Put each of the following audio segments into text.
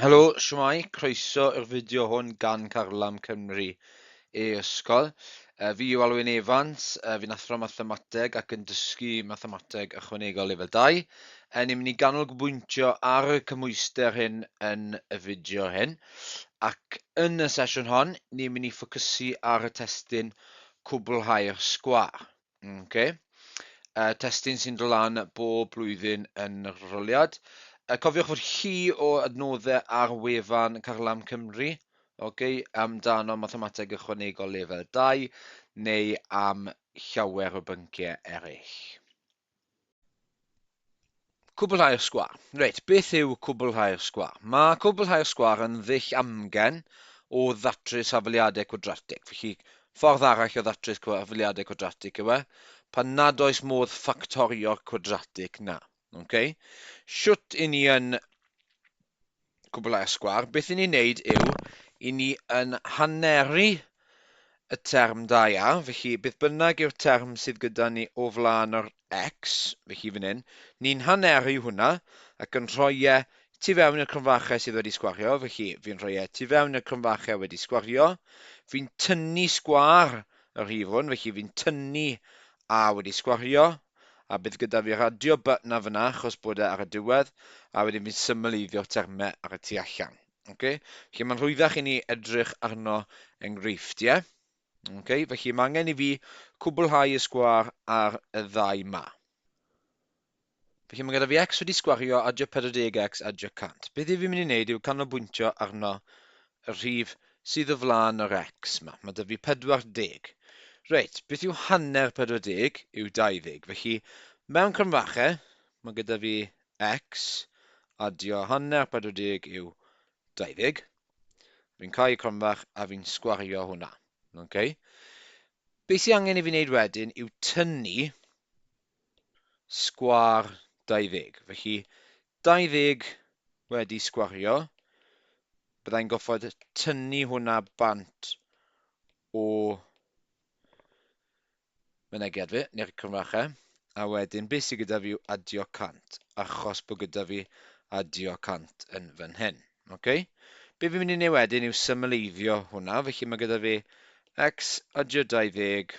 Helo, siwmai, croeso i'r fideo hwn gan Carlam Cymru e Ysgol. Uh, fi yw Alwyn Evans, uh, fi'n athro mathemateg ac yn dysgu mathemateg ychwanegol lefel 2. Uh, ni'n mynd i ganolbwyntio ar y cymwyster hyn yn y fideo hyn. Ac yn y sesiwn hon, ni'n mynd i ffocysu ar y testyn cwblhau'r sgwar. Okay. Uh, testyn sy'n dod lan bob blwyddyn yn yr roliad. Uh, cofiwch fod chi o adnoddau ar wefan Carlam Cymru okay, amdano mathemateg ychwanegol lefel 2 neu am llawer o bynciau eraill. Cwblhau'r sgwâr. Reit, beth yw cwblhau'r sgwâr? Mae cwblhau'r sgwâr yn ddull amgen o ddatrys hafaliadau cwadratig. Felly, ffordd arall o ddatrys hafaliadau cwadratig yw e, pan nad oes modd ffactorio'r cwadratig 'na. Okay? Shwt 'yn ni yn Cwblhau y sgwâr, beth i ni wneud yw, i ni yn haneru y term da ia, felly beth bynnag yw'r term sydd gyda ni o flaen yr X, felly fan hyn, ni'n haneru hwnna ac yn rhoi e tu fewn i'r cromfachau sydd wedi sgwario, felly fi'n rhoi e tu fewn i'r cromfachau wedi sgwario, fi'n tynnu sgwâr y rhif hwn, felly fi'n tynnu A wedi sgwario, a bydd gyda fi radio button a fyna achos bod e ar y diwedd, a wedyn fi'n symleiddio'r terme ar y tu allan. Okay? Felly mae'n rhwyddach i ni edrych arno enghreifft, ie? Yeah? Okay, felly mae angen i fi cwblhau y sgwar ar y ddau ma. Felly mae gyda fi x wedi sgwario adio 40x adio 100. Beth i fi mynd i wneud yw canolbwyntio arno y rhif sydd o flaen yr X 'ma. Mae 'da fi 40. Reit, beth yw hanner 40 yw 20. Felly, mewn cromfachau, mae gyda fi X, adio hanner 40 yw 20. Fi'n cau y cromfach a fi'n sgwario hwnna. Okay? Be sy'n angen i fi wneud wedyn yw tynnu sgwâr 20. Felly, 20 wedi sgwario, byddai'n goffod tynnu hwnna bant o mynegiad fi, neu'r cromfachau, a wedyn beth sydd gyda fi yw adio 100, achos bod gyda fi adio 100 yn fan hyn. Okay? Be fi'n mynd i wneud wedyn yw symleiddio hwnna, felly mae gyda fi x adio 20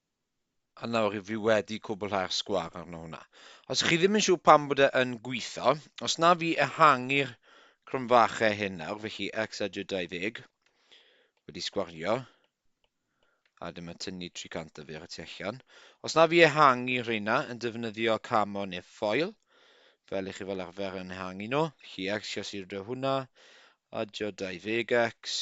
A nawr rydw i wedi cwblhau'r sgwâr arno hwnna. Os chi ddim yn siŵr pam bod e yn gweithio, os na fi ehangu'r cromfachau hyn nawr, felly x a j 20 wedi sgwario, a dyma tynnu 300 o fer y tu allan. Os na fi ehangu rheina yn defnyddio camo neu ffoil, fel i chi fel arfer yn ehangu nhw, felly x siasir hwnna, a j 20x,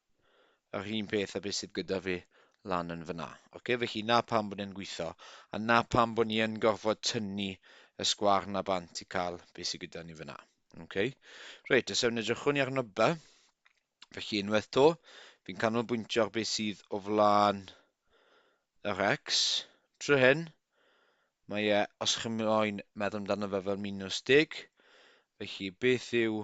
Yr un peth â beth sydd gyda fi lan yn fan'na. Ocê, felly 'na pam bod e'n gweithio, a 'na pam bod ni yn gorfod tynnu y sgwâr 'na bant i cael beth sydd gyda ni fan'na. Ocê? Reit, os ewn edrychwn ni arno by, felly unwaith 'to, fi'n canolbwyntio ar beth sydd o flaen yr x trwy hyn. Mae e, os chi'n moyn meddwl amdano fe fel minws deg, felly beth yw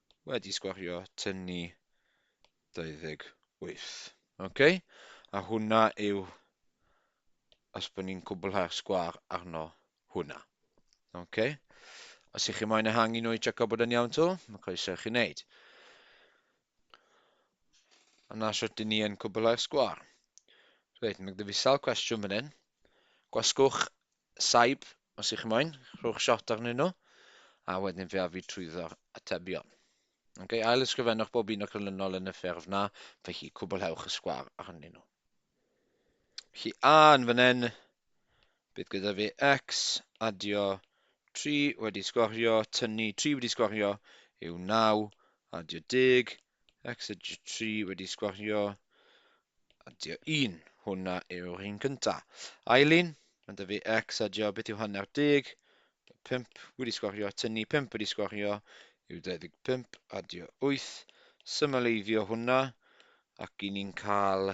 wedi sgwario tynnu 28. Ok, a hwnna yw os bod ni'n cwblhau'r sgwar arno hwnna. Ok, os ych chi moyn ehangu nhw i checio bod yn iawn to, mae croeso i chi wneud. A na sut dyn ni yn cwblhau'r sgwar. Reit, mae gyda fi sawl cwestiwn fan hyn. Gwasgwch Saib, os ych chi moyn, rhowch shot arnyn nhw, a wedyn fe a fi trwyddo atebion. Ok, ail ysgrifennwch bob un o'r canlynol yn y ffurf na, felly cwblhewch y sgwar arnyn nhw. Felly a yn fan hyn, bydd gyda fi x, adio 3 wedi sgorio, tynnu 3 wedi sgorio yw 9, adio 10, Exit tri wedi sgwario. A dio un. Hwna yw'r un cynta. Eileen, mae'n dyfu X a dio beth yw hanner deg. 5 wedi sgwario a tynnu 5 wedi sgwario yw 25 a dio 8. Symaleiddio hwnna ac i ni'n cael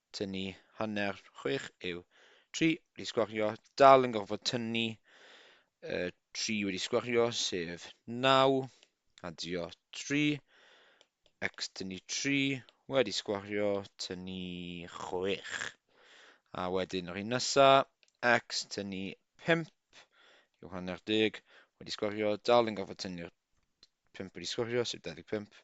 tynnu hanner chwech yw tri wedi sgwario, dal yn gorfod tynnu y tri wedi sgwario sef naw, adio tri, x tynnu tri wedi sgwario tynnu chwech. A wedyn yr un nesa, x tynnu pump yw hanner deg wedi sgwario, dal yn gorfod tynnu'r pump wedi sgwario sef 25,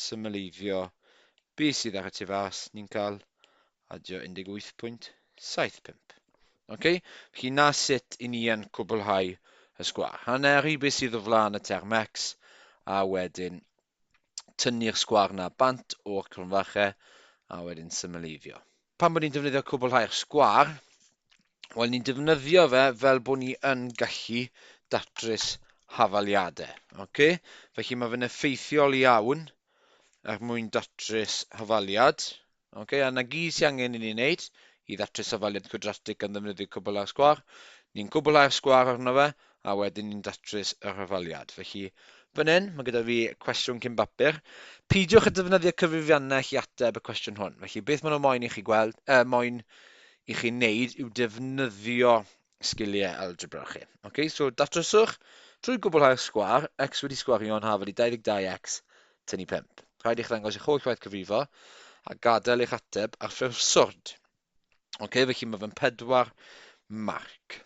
symleiddio be sydd ar y tu fas, ni'n cael adio 18.75. Ok, felly na sut i ni yn cwblhau y sgwâr. Hanner i be sydd o flaen y term x, a wedyn tynnu'r sgwâr na bant o'r cromfache, a wedyn symleiddio. Pam bod ni'n defnyddio cwblhau'r sgwâr? Wel, ni'n defnyddio fe fel bod ni yn gallu datrys hafaliadau. Okay? Felly mae fe'n effeithiol iawn er mwyn datrys hafaliad. Okay? A na gyd sy'n angen i ni wneud i ddatrys hafaliad cwadratig gan ddefnyddio cwblhau'r sgwâr. Ni'n cwblhau'r sgwâr arno fe, a wedyn ni'n datrys y rhyfaliad. Felly, fan hyn, mae gyda fi cwestiwn cyn bapur. Peidiwch â defnyddio cyfrifiannell i ateb y cwestiwn hwn. Felly, beth maen nhw moyn i chi gweld, uh, moyn i chi wneud yw defnyddio sgiliau algebra chi. Okay? So, datryswch trwy gwblhau'r sgwar, x wedi sgwario yn hafod i 22x tynnu 5. Rhaid i'ch ddangos eich holl waith cyfrifo a gadael eich ateb ar ffurf swrd. Ok, felly mae fe'n pedwar marc.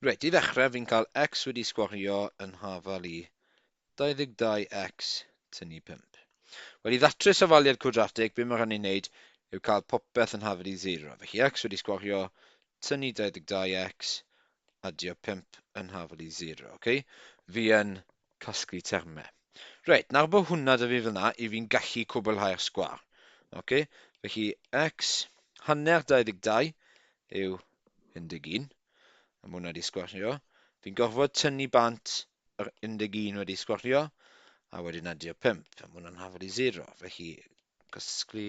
Reit, i ddechrau, fi'n cael x wedi sgwario yn hafal i 22x tynnu 5. Wel, i ddatrys ofaliad cwadratig, be mae rhan i'n neud yw cael popeth yn hafal i 0. Felly x wedi sgwario, tynnu 22x, adio 5 yn hafal i 0. Okay? Fi yn Casglu termau. Reit, nawr bod hwnna 'da fi fel 'na, i fi'n gallu cwblhau'r sgwâr. Oce? Felly, x hanner 22 yw 11. A mae hwnna wedi sgwario. Fi'n gorfod tynnu bant yr 11 wedi sgwario, a wedyn adio'r 5. A mae hwnna'n hafod i 0. Felly, casglu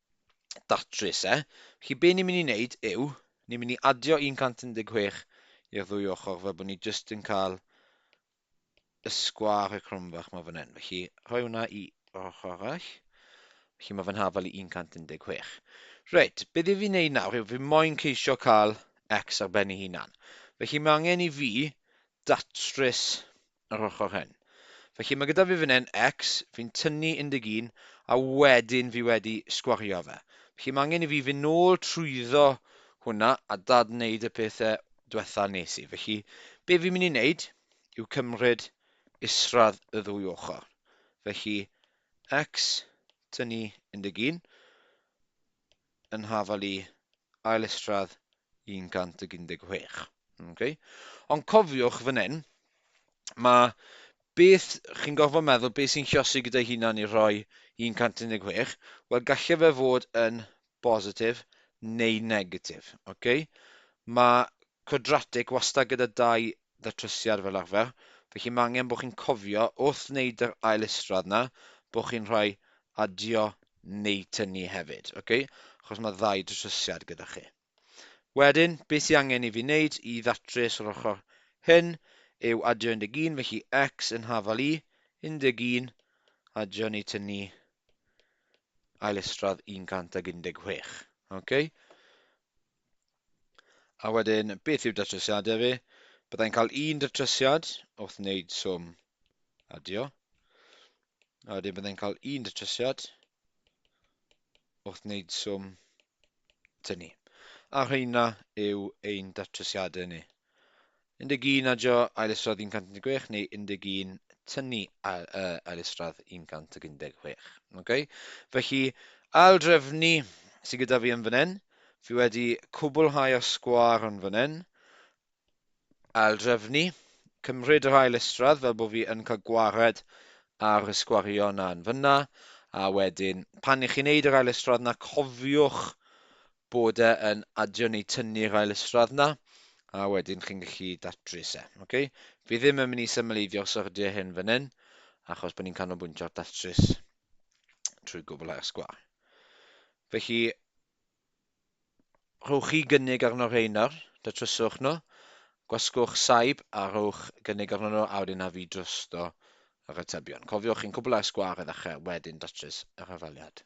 datrys e. Felly be ni'n mynd i wneud yw, ni'n mynd i adio 116 i'r ddwy ochr fel bod ni jyst yn cael y sgwâr y cromfach mae fan hyn. Felly rhoi hwnna i ochr arall. Felly mae fan hafal i 116. Reit, beth i fi wneud nawr yw fi moyn ceisio cael x ar ben ei hunan. Felly mae angen i fi datrys yr ochr hyn. Felly mae gyda fi fan hyn x, fi'n tynnu 11 a wedyn fi wedi sgwario fe. Felly mae angen i fi fynd nôl trwyddo hwnna a dad wneud y pethau diwetha nes i. Felly be fi'n mynd i wneud yw cymryd isradd y ddwy ochr. Felly x tynnu 11 yn hafal i ail estrad 116. Okay. Ond cofiwch fan hyn, mae beth chi'n gorfod meddwl beth sy'n llosi gyda'i hunan i rhoi 116, wel gallai fe fod yn bositif neu negatif. Okay? Mae Quadratic wastad gyda dau ddatrysiad fel arfer, felly mae angen bod chi'n cofio wrth wneud yr ail isradd 'na bod chi'n rhoi adio neu tynnu hefyd, ok? Achos mae ddau ddatrysiad gyda chi. Wedyn, beth sydd angen i fi wneud i ddatrys yr ochr hyn yw adio 11, felly x yn hafal i 11, adio neu tynnu ail isradd 116, ok? A wedyn, beth yw datrysiadau fi? Byddai'n cael un datrysiad wrth wneud swm adio. A wedyn byddai'n cael un datrysiad wrth wneud swm tynnu. A rheina yw ein datrysiadau ni. 11, adio ailustradd 116, neu 11, tynnu ailustradd 116. Okay? Felly, aildrefnu sydd gyda fi yn fan hyn. Fi wedi cwblhau a sgwar yn fan hyn. Aildrefnu. Cymryd yr ailustradd fel bod fi yn cael gwared ar y sgwario yna yn fyna. A wedyn, pan i chi'n neud yr ailustradd yna, cofiwch bod e yn adio neu tynnu'r ail isradd 'na, a wedyn chi'n gallu datrys e. Okay? Fi ddim yn mynd i symleiddio'r syrdiau hyn fan hyn, achos bod ni'n canolbwyntio ar datrys trwy gwblhau'r sgwâr. Felly, rhowch chi gynnig arno rhain nawr, datryswch nhw, gwasgwch saib a rhowch gynnig arno nhw, a wedyn a fi drosto yr atebion. Cofiwch chi'n cwblhau'r sgwâr i ddechrau, wedyn datrys y rhafaliad.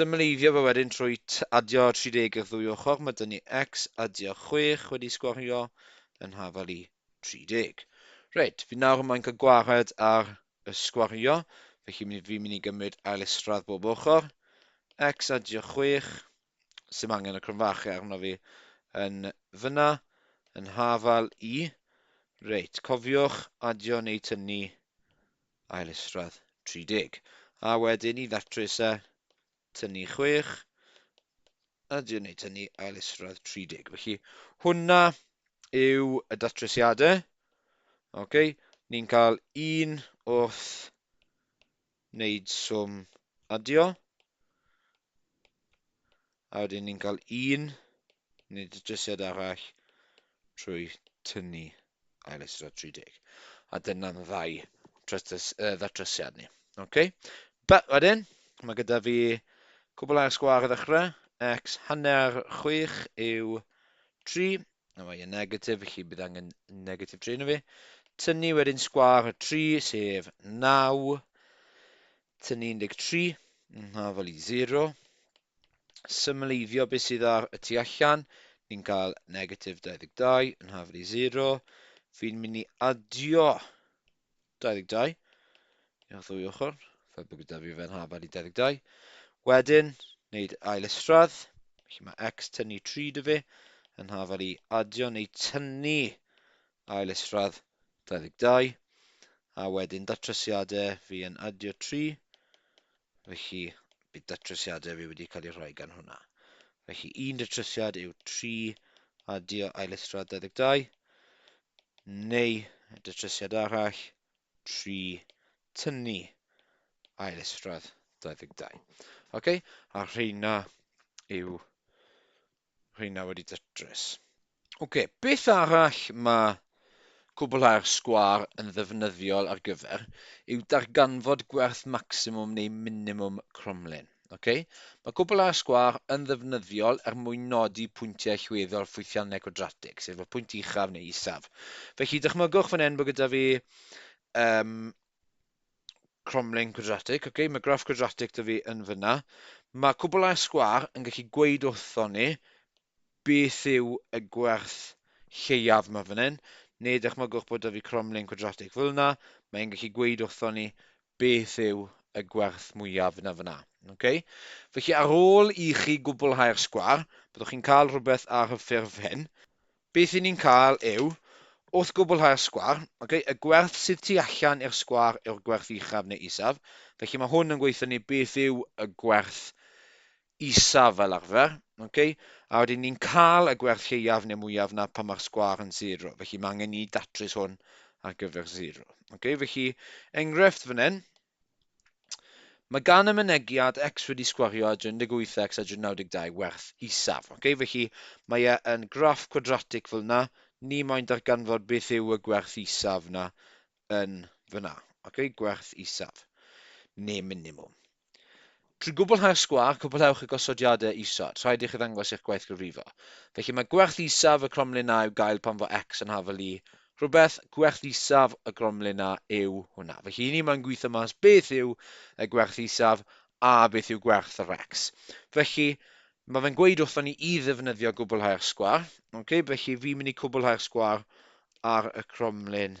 Symleiddio fe wedyn trwy adio 30 i'r ddwy ochr, mae 'da ni X adio 6 wedi sgwario yn hafal i 30. Reit, fi nawr mae'n cael gwared ar y sgwario, felly fi'n mynd i gymryd ail isradd bob ochr, X adio 6, sy'n angen y cromfachu arno fi yn fyna, yn hafal i, reit, cofiwch adio neu tynnu ail isradd 30. A wedyn i ddatrys e, tynnu 6, a dwi'n ei tynnu ail isradd 30. Felly hwnna yw y datrysiadau. Okay. Ni'n cael un wrth wneud swm adio. A wedyn ni'n cael un neu datrysiad arall trwy tynnu ail eistedd 30. A dyna'n ddau tratrys, uh, ddatrysiad ni. Okay? But wedyn, mae gyda fi cwbl ar y sgwar i ddechrau. X hanner 6 yw 3. A mae yn negatif, felly bydd angen negatif 3 yna fi. Tynnu wedyn sgwar 3, sef 9. Tynnu 13, yn hafal i 0. Symleiddio beth sydd ar y tu allan, ni'n cael negatif 22, yn hafal i 0. Fi'n mynd i adio 22 i'r ddwy ochr, fel bod gyda fi fe'n hafal i 22. Wedyn, wneud ail isradd, felly mae x tynnu 3 dy fe, yn hafal i adio neu tynnu ail isradd 22, a wedyn datrysiadau fi yn adio 3, felly bydd datrysiadau fi wedi cael eu rhoi gan hwnna. Felly un datrysiad yw 3 adio ail isradd 22, neu datrysiad arall 3 tynnu ail isradd 22. Okay? A rheina yw Rheina wedi datrys. Ok, beth arall mae cwblhau'r sgwâr yn ddefnyddiol ar gyfer yw darganfod gwerth maximum neu minimum cromlin. Ok, mae cwblhau'r sgwâr yn ddefnyddiol er mwyn nodi pwyntiau allweddol ffwythiannau cwadratig, sef y pwynt uchaf neu isaf. Felly dychmygwch fan hyn bod gyda fi um, cromlin quadratic. Okay, mae graff quadratic da fi yn fyna. Mae cwblau sgwar yn gallu gweud wrtho ni beth yw y gwerth lleiaf mae fan hyn, neu dychmygwch bod da fi cromlin quadratic fel yna, mae'n gallu gweud wrtho ni beth yw y gwerth mwyaf yna fyna. Okay? Felly ar ôl i chi gwblhau'r sgwar, byddwch chi'n cael rhywbeth ar y ffurf hyn. Beth 'y ni'n cael yw, wrth gwblhau'r sgwâr, ok, y gwerth sydd tu allan i'r sgwâr yw'r gwerth uchaf neu isaf, felly mae hwn yn gweithio ni beth yw y gwerth isaf fel arfer, ok, a wedyn ni'n cael y gwerth lleiaf neu mwyaf 'na pan mae'r sgwâr yn sero, felly mae angen ni datrys hwn ar gyfer sero. Ok, felly, enghraifft fan hyn, Mae gan y Mynegiad X wedi sgwario â 38X a 92 werth isaf. Okay? Felly mae e yn graff cwadratig fel yna, ni moyn darganfod beth yw y gwerth isaf yna yn fyna. Okay? Gwerth isaf, neu minimum. Trwy gwblhau'r sgwâr, cwblhewch y gosodiadau isod. Rhaid i chi ddangos eich gwaith gyfrifo. Felly, mae gwerthusiaf y cromlin a'u gael pan fo X yn hafal Y rhywbeth, gwerthusiaf y gromlin A yw hwnna. Felly, i ni mae'n gweithio mas beth yw y gwerthusiaf a beth yw gwerth yr X. Felly, mae fe'n gweud wrthon ni i ddefnyddio gwblhau'r sgwâr. Okay? Felly, fi'n mynd i cwblhau'r sgwâr ar y cromlin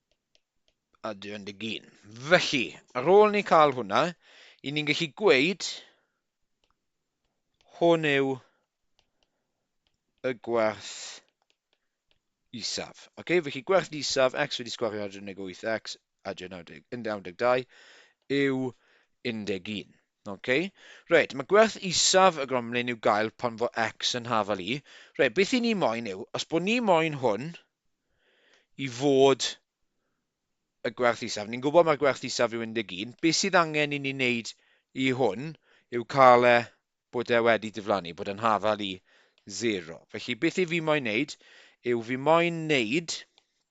a 21. Felly, ar ôl ni cael hwnna, i ni'n gallu gweud hwn yw y gwerth isaf. Okay? Felly gwerth isaf, x wedi sgwario 18x a 92 yw 11. Ok, reit, mae gwerth isaf y gromlin i'w gael pan fo x yn hafal i. Reit, beth i ni moyn yw, os bod ni moyn hwn i fod y gwerth isaf, ni'n gwybod mae'r gwerth isaf yw 11, beth sydd angen i ni wneud i hwn yw cael e bod e wedi diflannu, bod yn hafal i 0. Felly beth i fi moyn wneud yw fi moyn wneud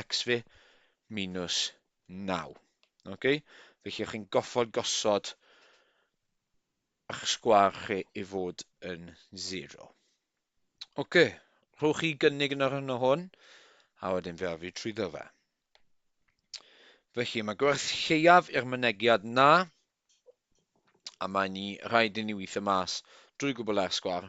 x fi minus 9. Okay? Felly, chi'n chi'n goffod gosod eich sgwar chi i fod yn 0. Oce, rhowch chi gynnig yn yr hyn o hwn, a wedyn fe afi trwyddo fe. Felly, mae gwerth lleiaf i'r mynegiad na, a mae ni rhaid i ni weithio mas drwy gwbl ar sgwar,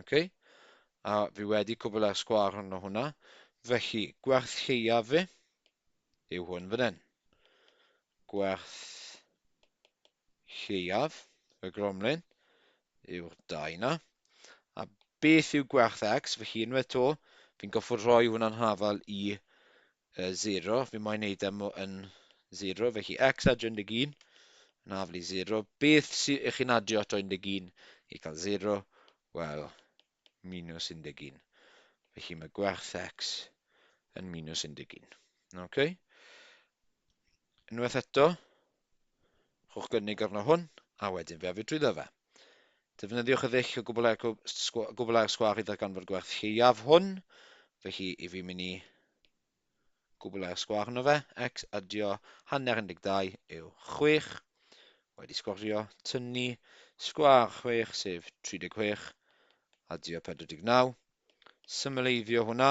Ok, a fi wedi cwbl ar sgwar hwnnw hwnna. Felly, gwerth lleiaf fi yw hwn fan hyn. Gwerth lleiaf y gromlin yw'r dau na. A beth yw gwerth x? Felly, unwaith to, fi'n goffod rhoi hwnna'n hafal i Y zero, fi moyn neud am e yn zero, felly x adio 11, yn aflu zero. Beth sy'n ych chi'n adio ato 11 i cael zero? Wel, minus 11. Felly mae gwerth x yn minus 11. Okay? Unwaith eto, Rhowch gynnig arno hwn, a wedyn fe af fi drwyddo fe. Defnyddiwch y ddull o gwbl ar sgwâr i ddarganfod gwerth lleiaf hwn, felly i fi mynd i gwbl ar sgwâr yno fe, x adio hanner 12 yw 6, wedi sgorio, tynnu sgwâr 6 sef 36, adio 49, symleiddio hwnna,